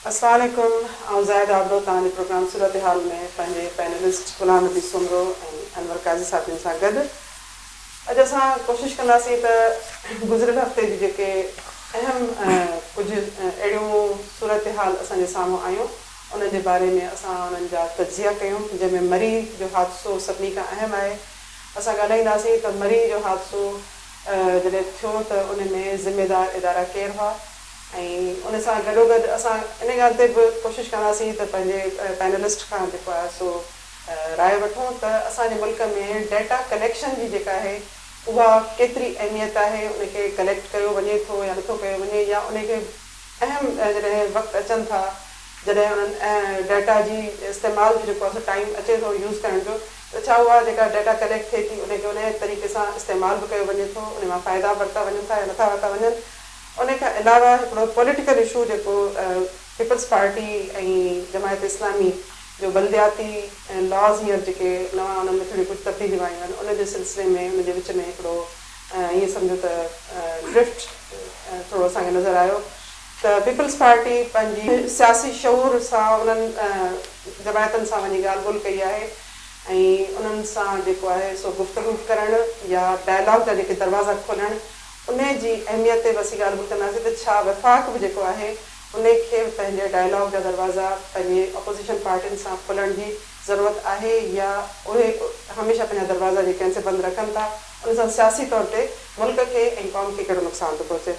السلام عليڪم آئون زاهد آبڙو توهان جي پروگرام صورتحال ۾ پنهنجي پينلسٽ غلام نبي سومرو ۽ انور قاضي صاحب جن سان گڏ اڄ اسان ڪوشش ڪنداسين ته گذريل هفتي جي جيڪي اهم ڪجهه اهڙيون صورتحال اسان جي سامهون آيون انهن جي باري ۾ اسان انهن جا تجزيا ڪيون جنهن ۾ مري جو حادثو سڀني کان اهم آهي اسان ڳالهائينداسين ته مري جو حادثو جڏهن ٿيو ته ان ۾ ذميدار ادارا ڪير هئا؟ ۽ ان سان گڏوگڏ اسان ان ڳالهه تي به ڪوشش ڪنداسين ته پنهنجي پينلسٽ کان جيڪو آهي سو راء وٺون ته اسان جي ملڪ ۾ ڊيٽا ڪليڪشن جي جيڪا آهي اها ڪيتري اهميت آهي ان کي ڪليڪٽ ڪيو وڃي ٿو يا نٿو ڪيو وڃي يا ان کي اهم جڏهن وقت اچن ٿا جڏهن انهن ڊيٽا جي استعمال جو جيڪو آهي سو ٽائيم اچي ٿو يوز ڪرڻ جو ته ڇا اها جيڪا ڊيٽا ڪليڪٽ ٿئي ٿي ان کي ان طريقي سان استعمال به ڪيو وڃي ٿو ان مان فائدا ورتا وڃن ٿا يا نٿا ورتا وڃن ان کان علاوه هڪڙو پوليٽيڪل اشو جيڪو پيپلز پارٽي ۽ جماعت اسلامي جو بلدياتي لاز هينئر جيڪي نوان انهن ۾ ٿوريون ڪجهه تبديليون آيون آهن ان جي سلسلي ۾ ان جي وچ ۾ هڪڙو ائين سمجهو ته ڊرفٽ ٿورو اسان کي نظر آيو ته پيپلز پارٽي پنهنجي سياسي شعور سان انهن جماعتن سان وڃي ڳالهه ٻولهه ڪئي آهي ۽ انهن سان جيڪو آهي سو گفتگو ڪرڻ يا ڊائلاگ جا جيڪي دروازا کولڻ انهي جي اهميت تي به اسين ڳالهه ٻولهه ڪنداسين ته ڇا وفاق به جيڪو آهي انهي کي به پنهنجي ڊائلاگ جا دروازا پنهنجي اپوزيشن پارٽين سان کولڻ جي ضرورت آهي يا اهي هميشه پنهنجا دروازا جيڪي آهن سي بند رکن ٿا ان سان سياسي طور تي ملڪ کي ۽ قوم کي ڪهڙو نقصان ٿو پهچي.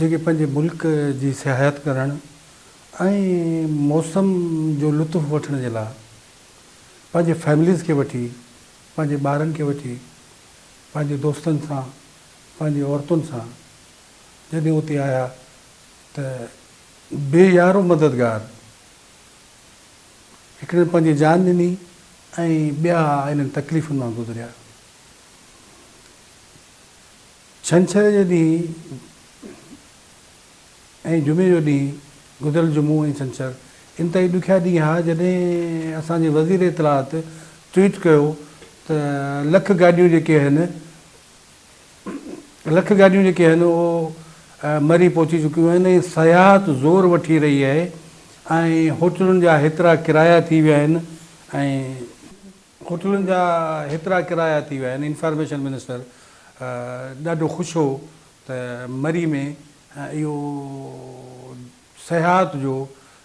جيڪي پنهنجي ملڪ جي سياحت ڪرڻ ۽ موسم جو لطف وٺڻ جي لاء پنهنجي فيمليز کي وٺي، پنهنجي ٻارن کي وٺي، پنهنجي دوستن سان، پنهنجي عورتن سان جڏهن اتي آيا ته بي يار و مددگار هڪڙن پنهنجي جان ڏني ۽ ٻيا انهن تڪليفن مان گذريا. ڇنڇر جي ڏينهن ۽ جمعي جو ڏينهن، گذريل جمعو ۽ ڇنڇر انتهائي ڏکيا ڏينهن ها جڏهن اسان جي وزير اطلاعات ٽوئيٽ ڪيو ته لک گاڏيون جيڪي هن لک گاڏيون جيڪي هن اهو مري پهچي چڪيون آهن ۽ سياحت زور وٺي رهي آهي ۽ هوٽلن جا هيترا ڪرايا ٿي ويا آهن ۽ هوٽلن جا هيترا ڪرايا ٿي ويا آهن انفارميشن منسٽر ڏاڍو خوش هو ته مري ۾ اهو سياحت جو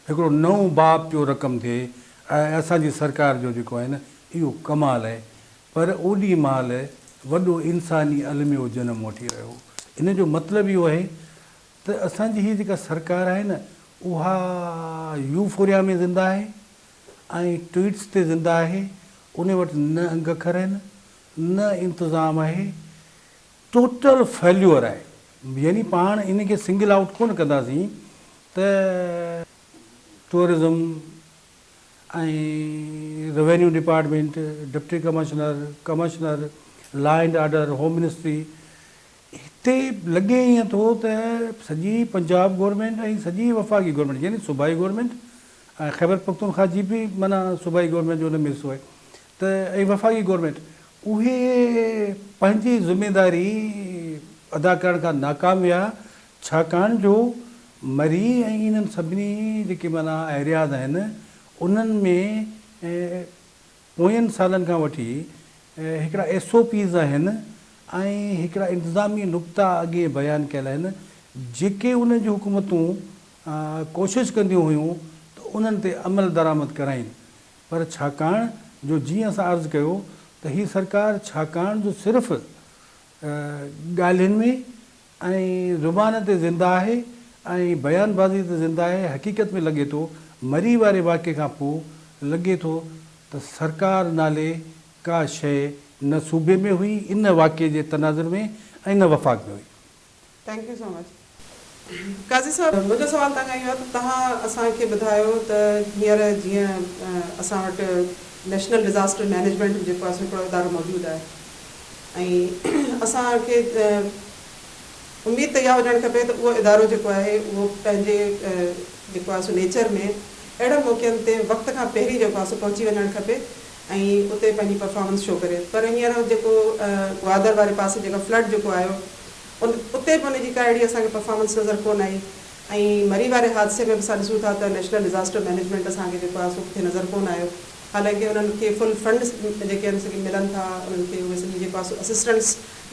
هڪڙو نئون باب پيو رقم ٿئي ۽ اسان جي سرڪار جو جيڪو آهي نه اهو ڪمال آهي پر اوڏي مهل وڏو انساني الميو جنم وٺي رهيو ان جو مطلب اهو آهي ته اسان جي هي جيڪا سرڪار آهي نه اها يوفوريا ۾ زنده آهي ۽ ٽوئيٽس تي زنده آهي ان وٽ نه انگ اکر آهن نه انتظام آهي ٽوٽل فيليور آهي يعني پاڻ ان کي سنگل آئوٽ ڪونه ڪنداسين ته tourism ۽ revenue department deputy commissioner commissioner law and order home ministry هتي لڳي ائين ٿو ته سڄي پنجاب گورنمينٽ ۽ سڄي وفاقي گورنمينٽ يعني صوبائي گورنمينٽ ۽ خيبر پختونخوا جي به معنيٰ صوبائي گورنمينٽ جو ان ۾ حصو آهي ته ۽ وفاقي گورنمينٽ اهي پنهنجي ذميداري ادا ڪرڻ کان ناڪام ويا ڇاڪاڻ جو مري ۽ انهن سڀني جيڪي معنيٰ ايرياز آهن انهن ۾ پوين سالن کان وٺي هڪڙا ايس او پيز آهن ۽ هڪڙا انتظامي نقطا اڳهين بيان ڪيل آهن جيڪي انهن جون حڪومتون ڪوشش ڪنديون هيون ته انهن تي عمل درآمد ڪرائين پر ڇاڪاڻ جو جيئن اسان عرض ڪيو ته هي سرڪار ڇاڪاڻ جو صرف ڳالهين ۾ ۽ زبان تي زنده آهي ۽ بيان بازي تي زنده آهي، حقيقت ۾ لڳي ٿو مري واري واقعي کان پوء لڳي ٿو ته سرڪار نالي ڪا شيء نه صوبي ۾ هئي ۽ نه واقعي جي تناظر ۾ ۽ نه وفاق ۾ هئي. Thank you so much Qazi sahib منهنجو سوال توهان کان اهو آهي ته توهان اسان کي ٻڌايو ته هينئر جيئن اسان وٽ نيشنل ڊزاسٽر مينيجمينٽ جيڪو آهي سو هڪڙو ادارو موجود آهي ۽ اسان کي اميد ته اها هجڻ کپي ته اهو ادارو جيڪو آهي اهو پنهنجي جيڪو آهي سو نيچر ۾ اهڙن موقعن تي وقت کان پهرين جيڪو آهي سو پهچي وڃڻ کپي ۽ اتي پنهنجي پرفارمنس شو ڪري پر هينئر جيڪو گوادر واري پاسي جيڪا فلڊ جيڪو آيو ان اتي به ان جي ڪا اهڙي اسان کي پرفارمنس نظر ڪونه آئي ۽ مري واري حادثي ۾ به اسان ڏسون ٿا ته نيشنل ڊزاسٽر مينيجمينٽ اسان کي جيڪو آهي سو ڪٿي نظر ڪونه آيو حالانڪه انهن کي فل فنڊز جيڪي آهن سي ملن ٿا انهن کي اهي سڄي جيڪو آهي اسسٽنس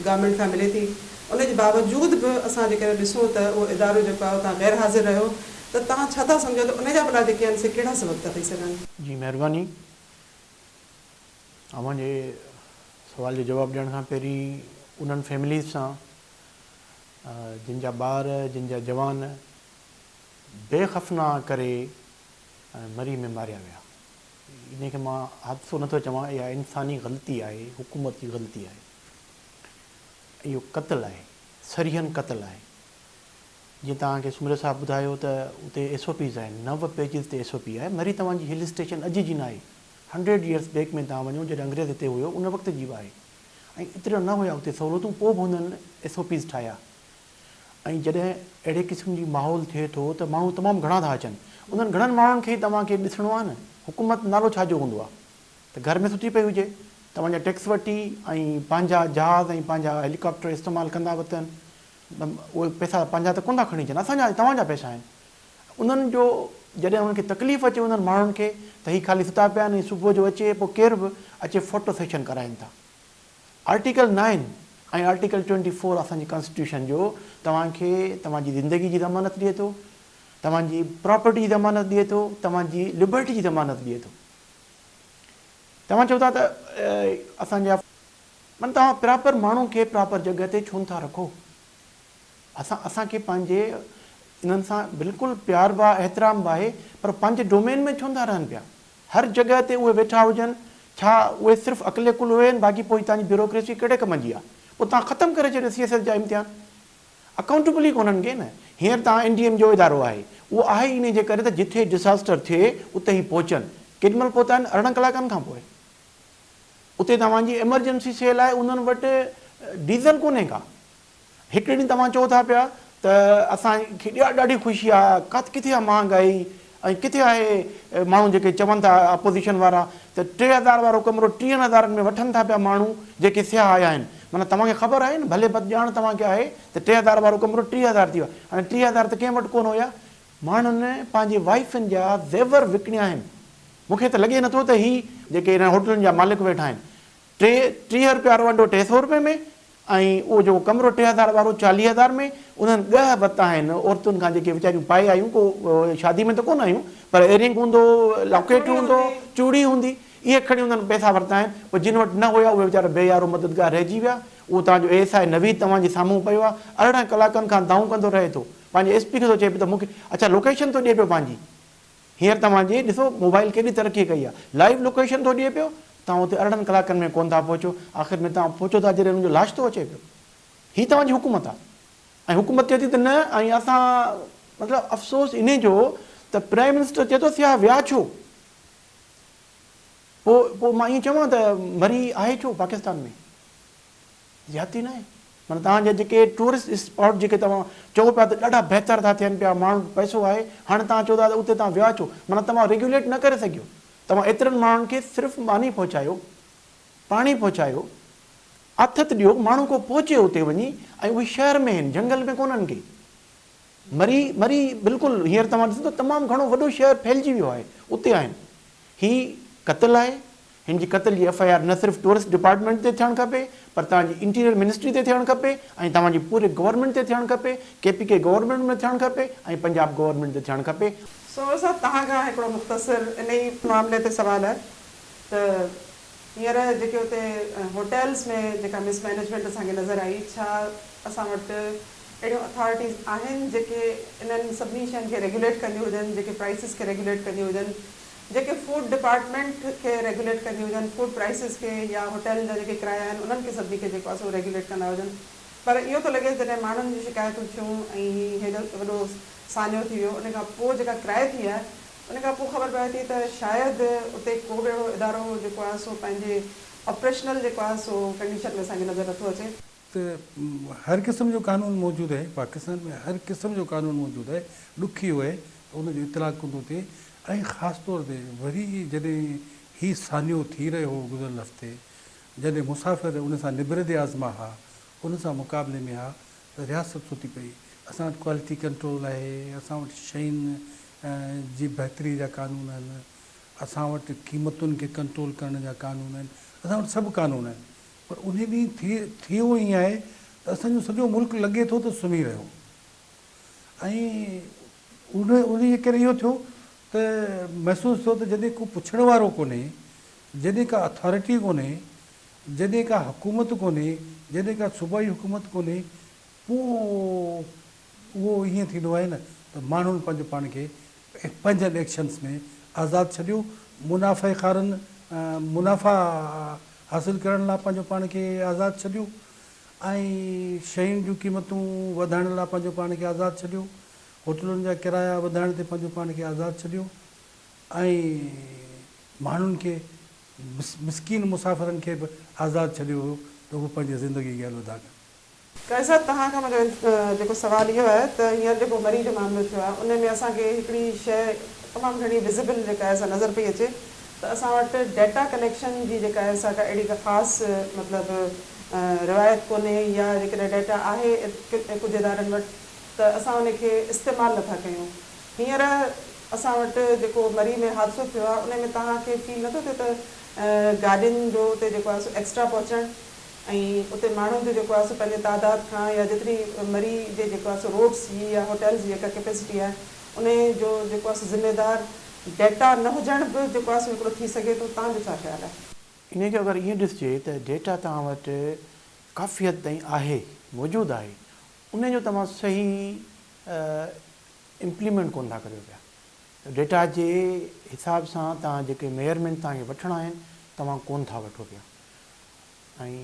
گورنمينٽ کان ملي ٿي ان جي باوجود به اسان جيڪڏهن ڏسون ته اهو ادارو جيڪو آهي اتان غير حاضر رهيو ته توهان ڇا ٿا سمجهو ته ان جا ڀلا جيڪي آهن سي ڪهڙا سبب ٿا ٿي سگهن. جي مهرباني. اوهان جي سوال جو جواب ڏيڻ کان پهرين انهن فيمليز سان جن جا ٻار جن جا جوان بي خفنا ڪري ۽ مري ۾ ماريا ويا. انهي کي مان حادثو نه ٿو چوان اها انساني غلطي آهي حڪومت جي غلطي آهي اهو قتل آهي صريحن قتل آهي جيئن توهان کي سومري صاحب ٻڌايو ته اتي ايس او پيز آهن نو پيجز تي ايس او پي آهي مري توهان جي هل اسٽيشن اڄ جي ناهي هنڊريڊ يئرس بيڪ ۾ توهان وڃو جڏهن انگريز هتي هيو ان وقت جي آهي ۽ اتريا نه هيا اتي سهولتون پوء به هنن ايس او پيز ٺاهيا ۽ جڏهن اهڙي قسم جي ماحول ٿئي ٿو ته ماڻهو تمام گهڻا ٿا اچن انهن گهڻن ماڻهن کي ئي توهان کي ڏسڻو آهي نه حڪومت نالو ڇا جو هوندو آهي ته گهر ۾ ستي پئي هجي توهان جا ٽيڪس وٺي ۽ پنهنجا جهاز ۽ پنهنجا هيليڪاپٽر استعمال ڪندا به اٿن اهي پئسا پنهنجا ته ڪونه ٿا کڻي اچن اسان جا توهان جا پئسا آهن انهن جو جڏهن انهن کي تڪليف اچي انهن ماڻهن کي ته هي خالي ستا پيا آهن ۽ صبح جو اچي پوء ڪير به اچي فوٽو سيشن ڪرائين ٿا. Article nine ۽ article twenty four اسان جي ڪانسٽيٽيوشن جو توهان کي توهان جي زندگي جي ضمانت ڏئي ٿو، توهان جي پراپرٽي جي ضمانت ڏئي ٿو، توهان جي لبرٽي جي ضمانت ڏئي ٿو. توهان چئو ٿا ته اسان جا. معنيٰ توهان پراپر ماڻهو کي پراپر جڳهه تي ڇو نه ٿا رکو؟ اسان اسان کي پنهنجي انهن سان بلڪل پيار به آهي، احترام به آهي پر پنهنجي ڊومين ۾ ڇو نه ٿا رهن پيا؟ هر جڳهه تي اهي ويٺا هجن، ڇا اهي صرف عقل ڪل هين باقي پوء هتان جي بيوروڪريسي ڪهڙي ڪم جي آ، اتان ختم ڪري ڇڏيو سي ايس ايس جا امتحان، اڪائونٽيبل ئي ڪونهن ڪي نه، هينئر ته آء اين ڊي ايم جو ادارو آهي، اهو آهي ئي انهي جي ڪري ته جتي ڊساسٽر ٿئي اتي هي پهچن، ڪيڏي مهل پهتا آهن ارڙهن ڪلاڪن کان پوء، اتي توهان جي ايمرجنسي سيل آهي انهن وٽ ڊيزل ڪونهي ڪا. هڪڙي ڏينهن توهان چئو ٿا پيا ته اسان کي ڏاڍي خوشي آ ڪاٿ ڪٿي آ مهانگائي ۽ ڪٿي آهي ماڻهو جيڪي چون ٿا اپوزيشن وارا ته ٽي هزار وارو ڪمرو ٽيهن هزارن ۾ وٺن ٿا پيا ماڻهو جيڪي سياح آيا آهن معنيٰ توهان کي خبر آهي نه ڀلي بد ڄاڻ توهان کي آهي ته ٽي هزار وارو ڪمرو ٽيهه هزار ٿي ويو آهي هاڻي ٽيهه هزار ته ڪنهن وٽ ڪونه هيا ماڻهن پنهنجي وائفن جا زيور وڪڻيا آهن مون کي ته لڳي نٿو ته هي جيڪي انهن هوٽلن جا مالڪ ويٺا آهن ٽي ٽيهه رپيا روانڊو ٽي سؤ رپئي ۾ ۽ اهو جيڪو ڪمرو ٽي هزار وارو چاليهه هزار ۾ انهن ڳهه بت آهن عورتن کان جيڪي ويچاريون پائي آيون ڪو شادي ۾ ته ڪونه آيون پر ايرنگ هوندو لاڪيٽ هوندو چوڙي هوندي اهي کڻي انهن پئسا ورتا آهن پوء جن وٽ نه هيا اهي ويچارا بي يارو مددگار رهجي ويا اهو توهان جو اي ايس آء نويد توهان جي سامهون پيو آهي ارڙهن ڪلاڪن کان دانهون ڪندو رهي ٿو پنهنجي ايس پي کي ٿو چئي پيو ته مون کي اڇا لوڪيشن ٿو ڏئي پيو پنهنجي هينئر توهان جي ڏسو موبائيل ڪيڏي ترقي ڪئي آ لائيو لوڪيشن ٿو ڏئي پيو توهان اتي ارڙهن ڪلاڪن ۾ ڪون ٿا پهچو آخر ۾ توهان پهچو ٿا جڏهن ان جو لاش ٿو اچي پيو هي توهان جي حڪومت آ ۽ حڪومت چئي ٿي ته نه ۽ اسان مطلب افسوس انهي جو ته پرائيم منسٽر چئي ٿو سياح ويا ڇو پوء پوء مان ائين چوان ته مري آهي ڇو پاڪستان ۾. زيادتي ناهي معنيٰ توهان جا جيڪي ٽوئرسٽ اسپاٽ جيڪي توهان چئو پيا ته ڏاڍا بهتر ٿا ٿين پيا ماڻهن وٽ پئسو آهي هاڻي توهان چئو ٿا ته اتي توهان ويا ڇو معنيٰ توهان ريگيوليٽ نه ڪري سگهيو توهان ايترن ماڻهن کي صرف ماني پهچايو پاڻي پهچايو آٿت ڏيو ماڻهو ڪو پهچي اتي وڃي ۽ اهي شهر ۾ آهن جهنگل ۾ ڪونهن ڪي مري مري بلڪل هينئر توهان ڏسندا تمام گهڻو وڏو شهر ڦهلجي ويو آهي اتي آهن هي قتل آهي هن جي قتل جي ايف آء آر نه صرف ٽوئرسٽ ڊپارٽمينٽ تي ٿيڻ کپي پر توهان جي انٽيريئر منسٽري تي ٿيڻ کپي ۽ توهان جي پوري گورنمينٽ تي ٿيڻ کپي، ڪي پي ڪي گورنمينٽ ۾ ٿيڻ کپي ۽ پنجاب گورنمينٽ تي ٿيڻ کپي. سومل صاحب توهان کان هڪڙو مختصر انهي معاملي تي سوال آهي ته هينئر جيڪي اتي هوٽلز ۾ جيڪا مس مينيجمينٽ اسان کي نظر آئي ڇا اسان وٽ اهڙيون اٿارٽيز آهن جيڪي انهن سڀني شين کي ريگوليٽ ڪنديون هجن جيڪي پرائسز کي ريگوليٽ ڪنديون هجن جيڪي فوڊ ڊپارٽمينٽ کي ريگوليٽ ڪنديون هجن، فوڊ پرائسز کي يا هوٽلن جا جيڪي ڪرايا آهن انهن کي سڀني کي جيڪو آهي سو ريگوليٽ ڪندا هجن پر اهو ٿو لڳي جڏهن ماڻهن جون شڪايتون ٿيون ۽ هي هيڏو وڏو سانحو ٿي ويو ان کان پوء جيڪا ڪرائي ٿي آهي ان کان پوء خبر پوي ٿي ته شايد اتي ڪو به اهڙو ادارو جيڪو آهي سو پنهنجي آپريشنل جيڪو آهي سو ڪنڊيشن ۾ اسان کي نظر نٿو اچي. ته هر قسم جو قانون موجود آهي پاڪستان ۾ هر قسم جو قانون موجود آهي ڏکيو آهي ته ان جو اطلاق ڪندو ٿئي ۽ خاص طور تي وري جڏهن هي سانحو ٿي رهيو هو گذريل هفتي جڏهن مسافر ان سان نبرد آزما ها ان سان مقابلي ۾ ها ته رياست ستي پئي اسان وٽ ڪوالٽي ڪنٽرول آهي اسان وٽ شين جي بهتري جا قانون آهن اسان وٽ قيمتن کي ڪنٽرول ڪرڻ جا قانون آهن اسان وٽ سڀ قانون آهن پر انهي ڏينهن ٿي ٿيو ائين آهي ته اسان جو سڄو ملڪ لڳي ٿو ته سمهي رهيو ۽ انهي جي ڪري اهو ٿيو ته محسوس ٿيو ته جڏهن ڪو پڇڻ وارو ڪونهي، جڏهن ڪا اٿارٽي ڪونهي، جڏهن ڪا حڪومت ڪونهي، جڏهن ڪا صوبائي حڪومت ڪونهي پوء اهو ائين ٿيندو آهي نه ته ماڻهن پنهنجو پاڻ کي ۽ پنهنجن ايڪشنز ۾ آزاد ڇڏيو، منافعي خارن منافعا حاصل ڪرڻ لا پنهنجو پاڻ کي آزاد ڇڏيو ۽ شين جون قيمتون وڌائڻ لا پنهنجو پاڻ کي آزاد ڇڏيو، هوٽلن جا ڪرايا وڌائڻ تي پنهنجو پاڻ کي آزاد ڇڏيو ۽ ماڻهن کي مسڪين مسافرن کي به آزاد ڇڏيو هيو ته هو پنهنجي زندگي کي الوداع ڪن. قيس صاحب توهان کان منهنجو جيڪو سوال اهو آهي ته هينئر جيڪو مري جو معاملو ٿيو آهي ان ۾ اسان کي هڪڙي شيء تمام گهڻي وزيبل جيڪا آهي سا نظر پئي اچي ته اسان وٽ ڊيٽا ڪليڪشن جي جيڪا آهي سا ڪا اهڙي ڪا خاص مطلب روايت ڪونهي يا جيڪڏهن ڊيٽا آهي ڪجهه ادارن وٽ ته اسان ان کي استعمال نٿا ڪيون هينئر اسان وٽ جيڪو مري ۾ حادثو ٿيو آهي ان ۾ توهان کي فيل نٿو ٿئي ته گاڏين جو اتي جيڪو آهي سو ايڪسٽرا پهچڻ ۽ اتي ماڻهن جو جيڪو آهي سو پنهنجي تعداد کان يا جيتري مري جي جيڪو آهي سو روڊس جي يا هوٽلز جي جيڪا ڪيپيسٽي آهي انهي جو جيڪو آهي سو ذميدار ڊيٽا نه هجڻ به جيڪو آهي سو هڪڙو ٿي سگهي ٿو تان جو ڇا خيال آهي؟ انهي کي اگر ائين ڏسجي ته ڊيٽا توهان وٽ ڪافي حد تائين آهي موجود آهي انهي جو توهان صحيح امپليمينٽ ڪونه ٿا ڪريو پيا ته ڊيٽا جي حساب سان توهان جيڪي ميئرمينٽ توهان کي وٺڻا آهن توهان ڪونه ٿا وٺو پيا ۽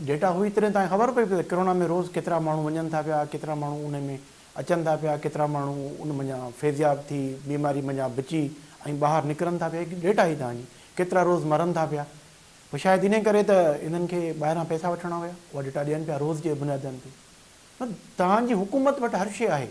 ڊيٽا هئي تڏهن تان خبر پئي پئي ته ڪرونا ۾ روز ڪيترا ماڻهو وڃن ٿا پيا ڪيترا ماڻهو ان ۾ اچن ٿا پيا ڪيترا ماڻهو ان منجهان فيضياب ٿي بيماري منجهان بچي ۽ ٻاهر نڪرن ٿا پيا هڪ ڊيٽا هئي تنهنجي ڪيترا روز مرن ٿا پيا پوء شايد انهي ڪري ته انهن کي ٻاهران پئسا وٺڻا هيا اها ڊيٽا ڏين پيا روز جي بنيادن تي تنهنجي حڪومت وٽ هر شيء آهي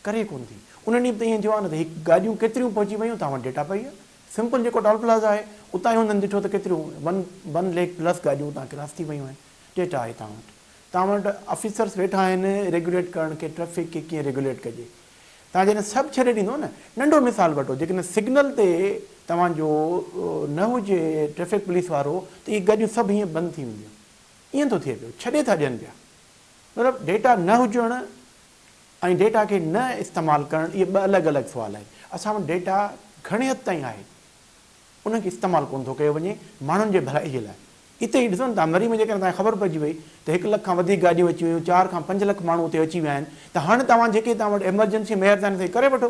ڪري ڪونه ٿي انهن ڏينهن به ته ائين ٿيو آهي نه ته هڪ گاڏيون ڪيتريون پهچي ويون توهان وٽ ڊيٽا پئي آهي سمپل جيڪو ٽول پلازا آهي اتان هندن ڏٺو ته ڪيتريون ون ون ليڪ پلس گاڏيون اتان ڪراس ٿي ويون آهن ڊيٽا آهي توهان وٽ توهان وٽ آفيسرس ويٺا آهن ريگوليٽ ڪرڻ کي ٽريفڪ کي ڪيئن ريگوليٽ ڪجي توهان جڏهن سڀ ڇڏي ڏيندو نه ننڍو مثال وٺو جيڪڏهن سگنل تي توهان جو نه هجي ٽريفڪ پوليس وارو ته اهي گاڏيون سڀ هيئن بند ٿي وينديون ائين ٿو ٿئي پيو ڇڏي ٿا ڏين پيا مطلب ڊيٽا نه هجڻ ۽ ڊيٽا کي نه استعمال ڪرڻ اهي ٻه الڳ الڳ سوال آهن. اسان وٽ ڊيٽا گهڻي حد تائين آهي ان کي استعمال ڪونه ٿو ڪيو وڃي ماڻهن جي ڀلائي لاء. اتي هي ڏسو نه تان مري ۾ جيڪڏهن تان کي خبر پئجي وئي ته هڪ لک کان وڌيڪ گاڏيون اچي ويون چار کان پنج لک ماڻهو اتي اچي ويا آهن ته هاڻي توهان جيڪي توهان وٽ ايمرجنسي مهرباني سان ڪري وٺو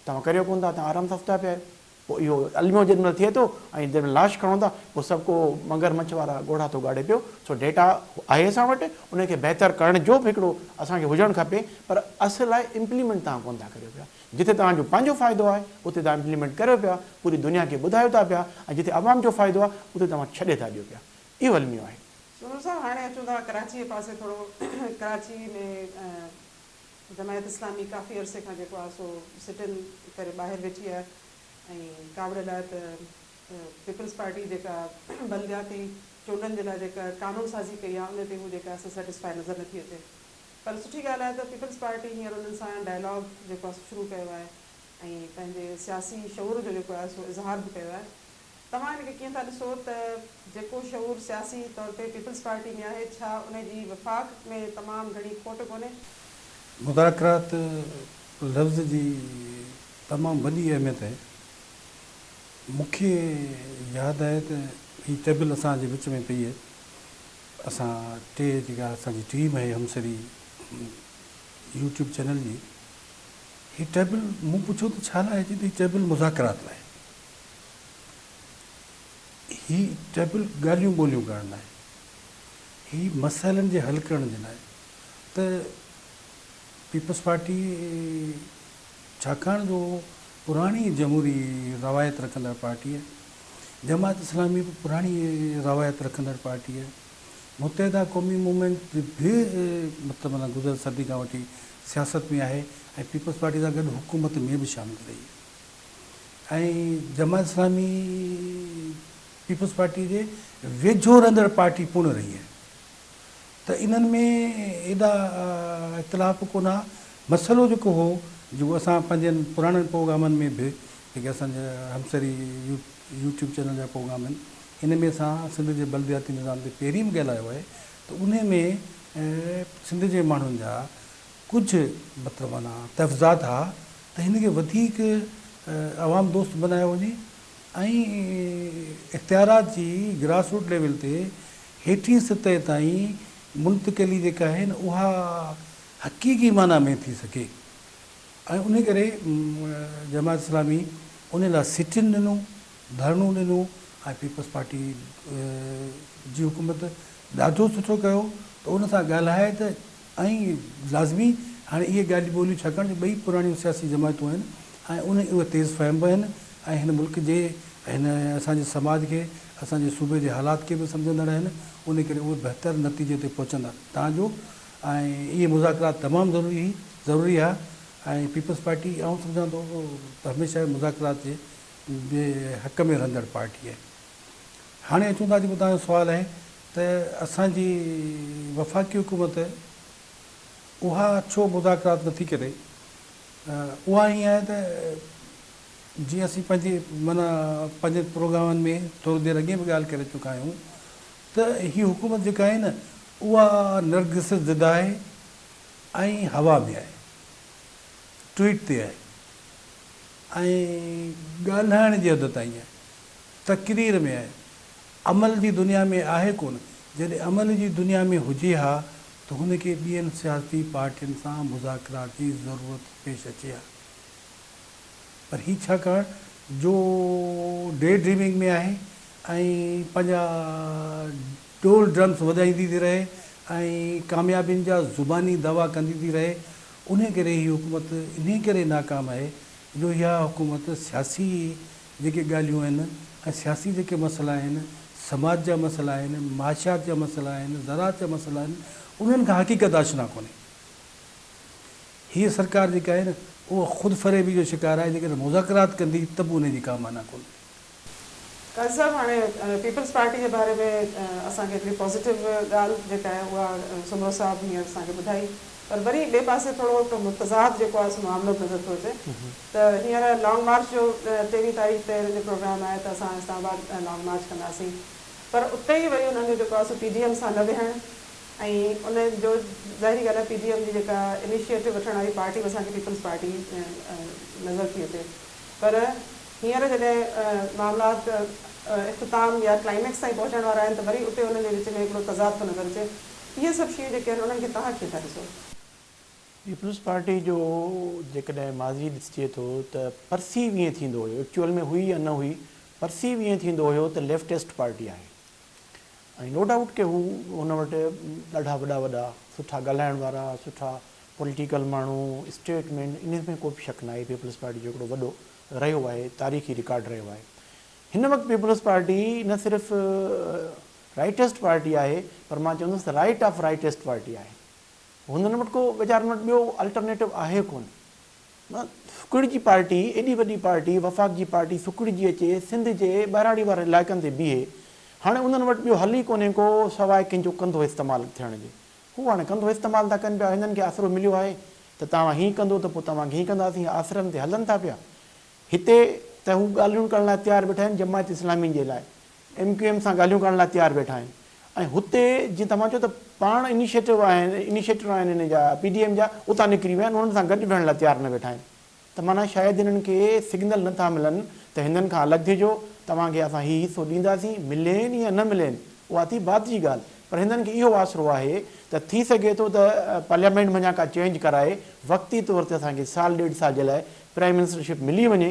توهان ڪريو ڪونه ٿا توهان آرام سان ستا پيا آهيو پوء اهو الميو جيڏمهل ٿئي ٿو ۽ جيڏمهل لاش کڻو ٿا پوء سڀ ڪو مگر مڇ وارا ڳوڙها ٿو ڳاڙي پيو سو ڊيٽا آهي اسان وٽ ان کي بهتر ڪرڻ جو به هڪڙو اسان کي هجڻ کپي پر اصل آهي امپليمينٽ توهان ڪونه ٿا ڪريو پيا جتي توهان جو پنهنجو فائدو آهي اتي توهان امپليمينٽ ڪريو پيا پوري دنيا کي ٻڌايو ٿا پيا ۽ جتي عوام جو فائدو آهي اتي توهان ڇڏي ٿا ڏيو پيا اهو الميو آهي. سنور صاحب هاڻي اچون ٿا ڪراچيء پاسي ٿورو ڪراچي ۾ جماعت اسلامي ڪافي عرصي کان جيڪو آهي سو سٽ ان ڪري ٻاهر ويٺي آهي ۽ ڪاوڙ لاء ته پيپلز پارٽي جيڪا بلدياتي چونڊن جي لاء جيڪا قانون سازي ڪئي آهي ان تي هو جيڪا آهي سيٽسفائي نظر نٿي اچي پر سٺي ڳالهه آهي ته پيپلز پارٽي هينئر انهن سان ڊائلاگ جيڪو آهي سو شروع ڪيو آهي ۽ پنهنجي سياسي شعور جو جيڪو آهي سو اظهار به ڪيو آهي توهان ان کي ڪيئن ٿا ڏسو ته جيڪو شعور سياسي طور تي پيپلز پارٽي ۾ آهي ڇا ان جي وفاق ۾ تمام گهڻي کوٽ ڪونهي؟ مذاڪرات لفظ جي تمام وڏي اهميت اهي. مون کي ياد آهي ته هي ٽيبل اسان جي وچ ۾ پئي اهي اسان ٽي جيڪا اسان جي ٽيم اهي همسري يوٽيوب چينل جي هي ٽيبل مون پڇيو ته ڇا لاء اهي چي ته هي ٽيبل مذاڪرات لاء. هي ٽيبل ڳالهيون ٻولهيون ڪرڻ لاء آهي، هي مسئلن جي حل ڪرڻ جي لاء ته پيپلز پارٽي ڇاڪاڻ جو پراڻي جمهوري روايت رکندڙ پارٽي آهي، جماعت اسلامي به پراڻي روايت رکندڙ پارٽي آهي، متحده قومي موومينٽ به مطلب معنيٰ گذريل صدي کان وٺي سياست ۾ آهي ۽ پيپلز پارٽي سان گڏ حڪومت ۾ به شامل رهي آهي. ۽ جماعت اسلامي پيپلز پارٽي جي ويجهو رهندڙ پارٽي پڻ رهي آهي ته انهن ۾ ايڏا اختلاف ڪونه ها مسئلو جيڪو هو جيڪو اسان پنهنجن پراڻن پروگرامن ۾ به جيڪي اسان جا همسري يوٽيوب چينل جا پروگرام آهن ان ۾ اسان سنڌ جي بلدياتي نظام تي پهرين به ڳالهايو آهي ته ان ۾ سنڌ جي ماڻهن جا ڪجهه مطلب معنيٰ تفضاد ها ته هن کي وڌيڪ عوام دوست بنايو وڃي ۽ اختيارات جي گراس روٽ ليول تي هيٺين سطح تائين منتقلي جيڪا آهي نه اها حقيقي معنيٰ ۾ ٿي سگهي ۽ انهي ڪري جماعت اسلامي انهي لاء سٽ ان ڏنو، ڌرڻو ڏنو ۽ پيپلز پارٽي جي حڪومت ڏاڍو سٺو ڪيو ته ان سان ڳالهائي ته ۽ لازمي هاڻي اهي ڳالهيون ٻوليون ڇاڪاڻ جو ٻئي پراڻيون سياسي جماعتون آهن ۽ انهي اهي تيز فهم به آهن ۽ هن ملڪ جي هن اسان جي سماج کي اسان جي صوبي جي حالات کي به سمجهندڙ آهن انهي ڪري اهي بهتر نتيجي تي پهچندا تان جو ۽ اهي مذاڪرات تمام ضروري هي ضروري ها ۽ پيپلز پارٽي آئون سمجهان ٿو ته هميشه مذاڪرات جي جي حق ۾ رهندڙ پارٽي آهي هاڻي اچون ٿا جيڪو توهان جو سوال آهي ته اسان جي وفاقي حڪومت اها ڇو مذاڪرات نٿي ڪري؟ اها ائين آهي ته جيئن اسين پنهنجي معنيٰ پنهنجن پروگرامن ۾ ٿوري دير اڳي به ڳالهه ڪري چڪا آهيون ته هي حڪومت جيڪا آهي نه اها نرگس زده آهي ۽ هوا ۾ آهي، ٽوئيٽ تي آهي ۽ ڳالهائڻ جي حد تائين آهي، تقرير ۾ آهي. عمل جي دنيا ۾ آهي ڪونه، جڏهن عمل جي دنيا ۾ هجي ها ته هن کي ٻين سياسي پارٽين سان مذاڪرات جي ضرورت پيش اچي ها پر هي ڇاڪاڻ جو ڊي ڊريمنگ ۾ آهي ۽ پنهنجا ڊول ڊرمس وڄائيندي ٿي رهي ۽ ڪاميابين جا زباني دعويٰ ڪندي ٿي رهي انهي ڪري هي حڪومت انهي ڪري ناڪام آهي جو اها حڪومت سياسي جيڪي ڳالهيون آهن ۽ سياسي جيڪي مسئلا آهن، سماج جا مسئلا آهن، معاشيات جا مسئلا آهن، زراعت جا مسئلا آهن، انهن کان حقيقت آشنا ڪونهي. هيء سرڪار جيڪا آهي نه اها خود فريبي جو شڪار آهي، جيڪڏهن مذاڪرات ڪندي ته به انهي جي ڪا معنيٰ ڪونهي. قاضي صاحب هاڻي پيپلز پارٽي جي باري ۾ اسان کي هڪڙي پازيٽو ڳالهه جيڪا آهي اها سومرو صاحب هينئر اسان کي ٻڌائي. پر وري ٻئي پاسي ٿورو هڪ متضاد جيڪو آهي سو معاملو به نظر ٿو اچي ته هينئر لانگ مارچ جو تيرهين تاريخ تي هنن جو پروگرام آهي ته اسان اسلام آباد لانگ مارچ ڪنداسين پر اتي ئي وري انهن جو جيڪو آهي سو پي ڊي ايم سان نه ويهڻ ۽ ان جو ظاهري ڳالهه آهي پي ڊي ايم جي جيڪا انيشيئيٽو وٺڻ واري پارٽي به اسان کي پيپلز پارٽي نظر ٿي اچي پر هينئر جڏهن معاملات اختتام يا ڪلائميڪس تائين پهچڻ وارا آهن ته وري اتي انهن جي وچ ۾ هڪڙو تضاد ٿو نظر اچي. اهي سڀ شيون جيڪي آهن انهن کي توهان ڪيئن ٿا ڏسو؟ پيپلز پارٽي جو جيڪڏهن ماضي ڏسجي ٿو ته پرسيو ائين ٿيندو هيو ايڪچوئل ۾ هئي يا نه هئي پرسيو ائين ٿيندو هيو ته ليفٽسٽ پارٽي آهي ۽ نو ڊائوٽ ڪي هو هن وٽ ڏاڍا وڏا وڏا سٺا ڳالهائڻ وارا سٺا پوليٽيڪل ماڻهو اسٽيٽ مين انهن ۾ ڪو به شڪ ناهي پيپلز پارٽي جو هڪڙو وڏو رهيو آهي تاريخي رڪارڊ رهيو آهي هن وقت پيپلز پارٽي نه صرف رائٽسٽ پارٽي آهي پر مان چوندس ته رائٽ آف رائٽسٽ پارٽي آهي. هنن وٽ ڪو ويچارن وٽ ٻيو الٽرنيٽو آهي ڪونه. نه سڪڙجي پارٽي ايڏي وڏي پارٽي وفاق جي پارٽي سڪڙجي اچي سنڌ جي ٻهراڙي وارن علائقن تي بيهي هاڻي انهن وٽ ٻيو حل ئي ڪونهي ڪو سواء ڪنهنجو ڪنڌو استعمال ٿيڻ جي. هو هاڻي ڪنڌو استعمال ٿا ڪن پيا هنن کي آسرو مليو آهي ته توهان هي ڪندو ته پوء توهان کي هي ڪنداسين آسرن تي هلن ٿا پيا. هتي ته هو ڳالهيون ڪرڻ لاء تيار ويٺا آهن جماعت اسلامي جي لاء ايم ڪيو ايم سان ڳالهيون ڪرڻ لاء تيار ويٺا آهن ۽ هتي جيئن توهان چئو ته پاڻ انيشيٽو آهن انيشيٽر آهن هن جا پي ڊي ايم جا اتان نڪري ويا آهن انهن سان گڏ ويهڻ لاء تيار نه ويٺا آهن ته معنيٰ شايد انهن کي سگنل نه ٿا ملن ته هندن کان الڳ ٿيجو توهان کي اسان هي حصو ڏينداسين ملين يا نه ملين اها ٿي بعد جي ڳالهه پر هندن کي اهو آسرو آهي ته ٿي سگهي ٿو ته پارليامينٽ منجهان ڪا چينج ڪرائي وقتي طور تي اسان کي سال ڏيڍ سال جي لاء پرائيم منسٽرشپ ملي وڃي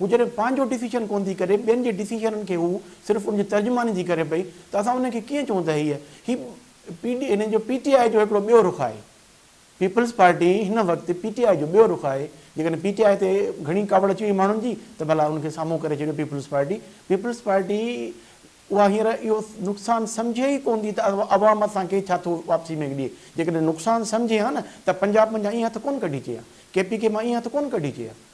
هو جڏهن پنهنجو ڊسيشن ڪونه ٿي ڪري ٻين جي ڊسيشنن کي هو صرف ان جي ترجماني ٿي ڪري پئي ته اسان ان کي ڪيئن چئون ته هيء هي پي ڊي هنن جو پي ٽي آء جو هڪڙو ٻيو رخ آهي پيپلز پارٽي هن وقت پي ٽي آء جو ٻيو رخ آهي جيڪڏهن پي ٽي آء تي گهڻي ڪاوڙ اچي وئي ماڻهن جي ته ڀلا ان کي سامهون ڪري ڇڏيو پيپلز پارٽي پيپلز پارٽي اها هينئر اهو نقصان سمجهي ئي ڪونه ٿي ته عوام اسان کي ڇا ٿو واپسي ۾ ڏئي جيڪڏهن نقصان سمجهي ها نه ته پنجاب منجهان ايئن هٿ ڪونه ڪڍي چئي ها ڪي پي ڪي مان ايئن هٿ ڪونه ڪڍي چئي ها